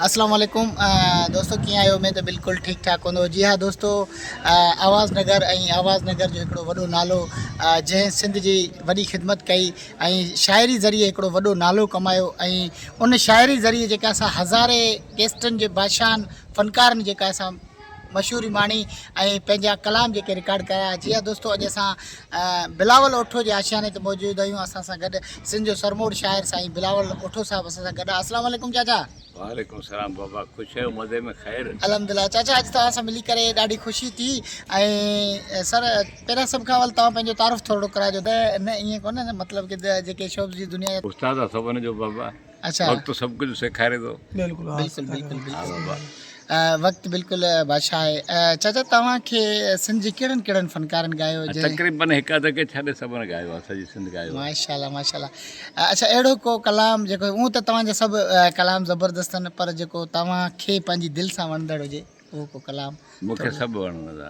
اسلام عليڪم دوستو ڪيئن آهيو اميد ته بلڪل ٺيڪ ٺاڪ هوندو جي ها دوستو آواز نگر ۽ آواز نگر جو هڪڙو وڏو نالو جنهن سنڌ جي وڏي خدمت ڪئي ۽ شاعري ذريعي هڪڙو وڏو نالو ڪمايو ۽ ان شاعري ذريعي جيڪا اسان هزارين ڪيسٽن جي بادشاهن فنڪارن جيڪا اسان مشهوري ماڻي ۽ پنهنجا ڪلام جيڪي رڪارڊ ڪرايا جي ها دوستو اڄ اسان بلاول اوٺو جي آشياني تي موجود آهيون اسان سان گڏ سنڌ جو سرموڙ شاعر سائين بلاول اوٺو صاحب اسان سان گڏ آهي السلام عليڪم چاچا وعليڪم السلام بابا خوش آهيو مزي ۾ خير الحمدلله چاچا اڄ توهان سان ملي ڪري ڏاڍي خوشي ٿي ۽ سر پهريان سڀ کان اول توهان پنهنجو تعارف ٿورڙو ڪرائجو ته نه ائين ڪونه مطلب ڪه جيڪي شوبز جي دنيا استاد سڀن جو بابا اچھا وقت سڀ ڪجھ سيکاري ٿو بلڪل بلڪل بلڪل وقت بلڪل بادشاھ آھي چاچا توھان کي سنڌ جي ڪھڙن ڪھڙن فنڪارن ڳايو جي تقريبن ھڪ اڌ کي ڇڏي سڀن ڳايو آھي سڄي سنڌ ڳايو ماشاءالله ماشاءالله اچھا اھڙو ڪو ڪلام جيڪو ھون ته توھان جا سڀ ڪلام زبردست آھن پر جيڪو توھان کي پنھنجي دل سان وڻندڙ ھجي اھو ڪو ڪلام مون کي سڀ وڻندا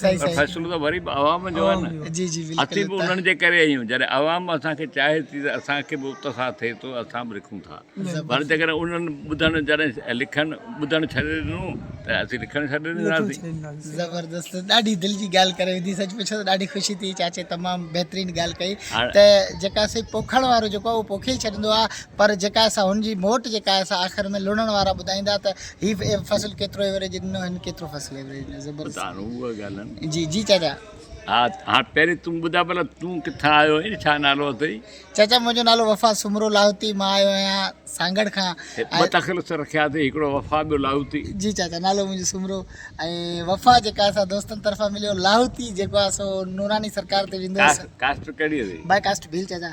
پر فيصلو ته وري به عوام جو آهي نه. اٿي به انهن جي ڪري آهيون. جڏهن عوام اسان کي چاهي ٿي ته اسان کي به اتساهه ٿئي ٿو اسان به لکون ٿا. پر جيڪڏهن انهن ٻڌڻ جڏهن لکڻ ٻڌڻ ڇڏي ڏنو ته اسين لکڻ ڇڏي ڏينداسين. زبردست ڏاڍي دل جي ڳالهه ڪري وڌي سچ پڇو ته ڏاڍي خوشي ٿي چاچي تمام بهترين ڳالهه ڪئي ته جيڪا سي پوکڻ وارو جيڪو آهي اهو پوکي ئي ڇڏيندو آهي پر جيڪا سا هن جي موٽ جيڪا آهي سا آخر ۾ لڻڻ وارا ٻڌائيندا ته هي فصل ڪيترو ايوريج ڏنو هن ڪيترو فصل ايوريج ڏنو زبردست پتا نو هو ڳالهن جي جي چاچا ها ها پهرين تون ٻڌا بلا تون ڪٿا آيو آهين ڇا نالو اٿئي چاچا منهنجو نالو وفا سومرو لاهوتي مان آيو آهيان سانگڙ کان ٻه تخلص رکيا اٿئي هڪڙو وفا ٻيو لاهوتي جي چاچا نالو منهنجو سومرو ۽ وفا جيڪا اسا دوستن طرفان مليو لاهوتي جيڪو آ سو نوراني سرڪار تي ويندو ڪاسٽ ڪهڙي اٿئي باي ڪاسٽ ڀيل چاچا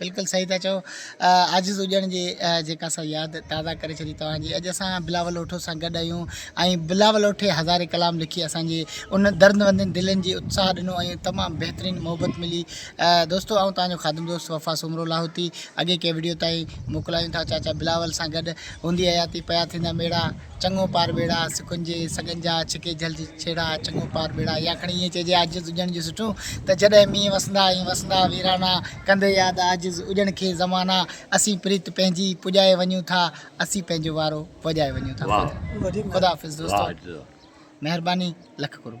بلڪل صحيح ٿا چئو عاجز اڄڻ جي جيڪا سا ياد تازا ڪري ڇڏي توهان جي اڄ اسان بلاول اوٺو سان گڏ آهيون ۽ بلاول اوٺي هزارين ڪلام لکي اسان جي ان درد وندين دلين جي اتساهه ڏنو ۽ تمام بهترين محبت ملي دوستو آئون توهان جو خادم دوست وفا سومرو لاهوتي اڳي ڪي ويڊيو تائين موڪلايون ٿا چاچا بلاول سان گڏ هوندي حياتي پيا ٿيندا ميڙا چڱو پار ٻيڙا سکن جي سڳن جا ڇڪي جھل جي ڇيڙا چڱو پار ٻيڙا يا کڻي ائين چئجي عاجز اڄڻ جو سٺو ته جڏهن مينهن وسندا ائين وسندا ويرانا ڪندي ياد عاجز اجڻ کي زمانا اسين پريت پنهنجي پڄائي وڃون ٿا اسين پنهنجو وارو وڄائي وڃون ٿا خدا حافظ دوستو مهرباني لک قرب.